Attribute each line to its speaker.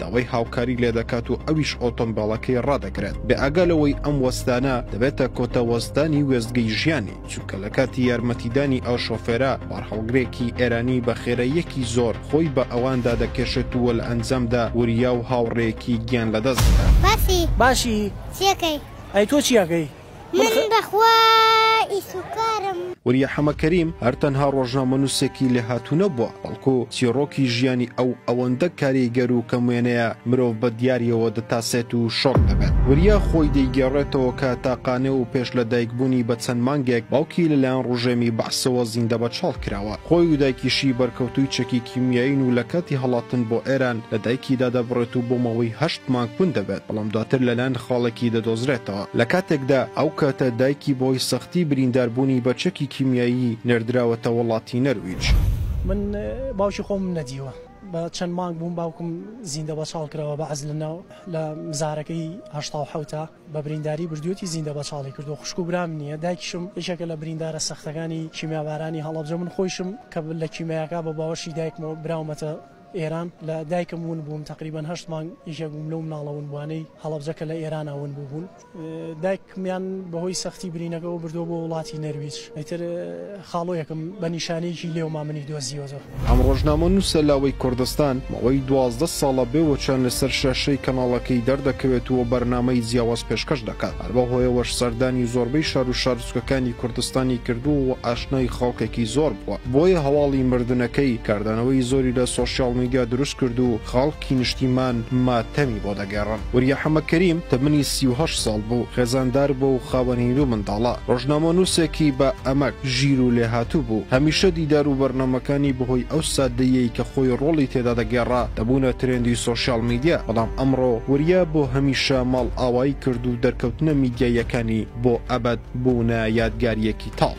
Speaker 1: داوای هاوکاری لێدەکات و ئەویش ئۆتۆمبێڵەکەی ڕادەگرێت، بێئاگا لەوەی ئەم وەستانە دەبێتە کۆتا وەستانی وێستگەی ژیانی، چونکە لەکاتی یارمەتیدانی ئەو شۆفێرە، بارهەڵگرێکی ئێرانی بە خێراییەکی زۆر خۆی بە ئەواندا دەکێشێت و لە ئەنجامدا وریا و هاوڕێیەکی گیان لەدەست دەدات. باسی. باشی.
Speaker 2: چی
Speaker 3: ئەکەی؟
Speaker 2: ئەی تۆ چی ئەکەی؟
Speaker 3: من بەخوا
Speaker 2: ئیش و کارم. وریا حەمە
Speaker 1: کەریم هەر تەنها ڕۆژنامەنووسێکی لێهاتوو نەبووە، بەڵکو چیڕۆکی ژیانی ئەو ئەوەندە کاریگەر و کەم وێنەیە مرۆڤ بە دیارییەوە دەتاسێت و شۆک دەبێت. وریا خۆی دەیگێڕێتەوە کە تاقانە و پێش لەدایکبوونی بە چەند مانگێک باوکی لەلایەن ڕژێمی بەعسەوە زیندەبەچاڵ کراوە. خۆی و دایکیشی بەرکەوتووی چەکی کیمیایین و لە کاتی هەڵاتن بۆ ئێران لە دایکی دادەبڕێت و بۆ ماوەی هەشت مانگ کون دەبێت، بەڵام دواتر لەلایەن خاڵێکی دەدۆزرێتەوە. لە کاتێکدا ئەو کاتە دایکی بەهۆی سەختی بریندار بوونی بە چەکی کیمیایی نێردراوەتە وەڵاتی نەرویج. من
Speaker 3: باوکی خۆمم نەدیوە بە چەند مانگ بووم باوکم زیندە بەچاڵ کراوە بە عەزل لە لە مزارەکەی هەشتا و حەوتا بە برینداری بردویەتی زیندە بەچاڵی کردوە خوشک و برام نیە دایکیشم یەکێکە لە بریندارە سەختەکانی کیمیابارانی هەڵەبجە من خۆیشم کە لە کیمیاکا بە باوەشی دایکمەوە براومەتە ئێران، لە دایکم ون بووم، تەقریبەن هەشت مانگ یەکێک بووم لەو مناڵە ونبووانەی هەڵەبجە کە لە ئێرانا ون بووبوون. دایکمیان بەهۆی سەختی برینەکەوە بردووە بۆ وڵاتی نەرویج، ئیتر خاڵۆیەکم بە نیشانەیەکی لێوما منی دۆزیوەتەوە. ئەم ڕۆژنامەنووسە
Speaker 1: لاوەی کوردستان ماوەی دوازدە ساڵە بێ وەچان لەسەر شاشەی کەناڵەکەی دەردەکەوێت و بەرنامەی جیاواز پێشکەش دەکات، هەر بەو هۆیەوەش سەردانی زۆربەی شار و شار، سوکەکانی کوردستانی کردووە و ئاشنای خەڵکێکی زۆر بووە بۆیە هەواڵی مردنەکەی کاردانەوەی زۆری لە سۆشیاڵ میدیا دروست کرد و خەڵکی نیشتیمان ماتەمی بۆ دەگێڕن وریا حەمە کەریم تەمەنی سی و هەشت ساڵ بوو خێزاندار بووە و خاوەنی دوو منداڵە ڕۆژنامەنووسێکی بە ئەمەک ژیر و لێهاتوو بوو هەمیشە دیدار و بەرنامەکانی بەهۆی ئەو سادەییەی کە خۆی ڕۆڵی تێدا دەگێڕا دەبوونە ترێندی سۆشیاڵ میدیا بەڵام ئەمڕۆ وریا بۆ هەمیشە ماڵئاوایی کرد و دەرکەوتنە میدیاییەکانی بۆ ئەبەد بوونە یادگارییەکی تاڵ.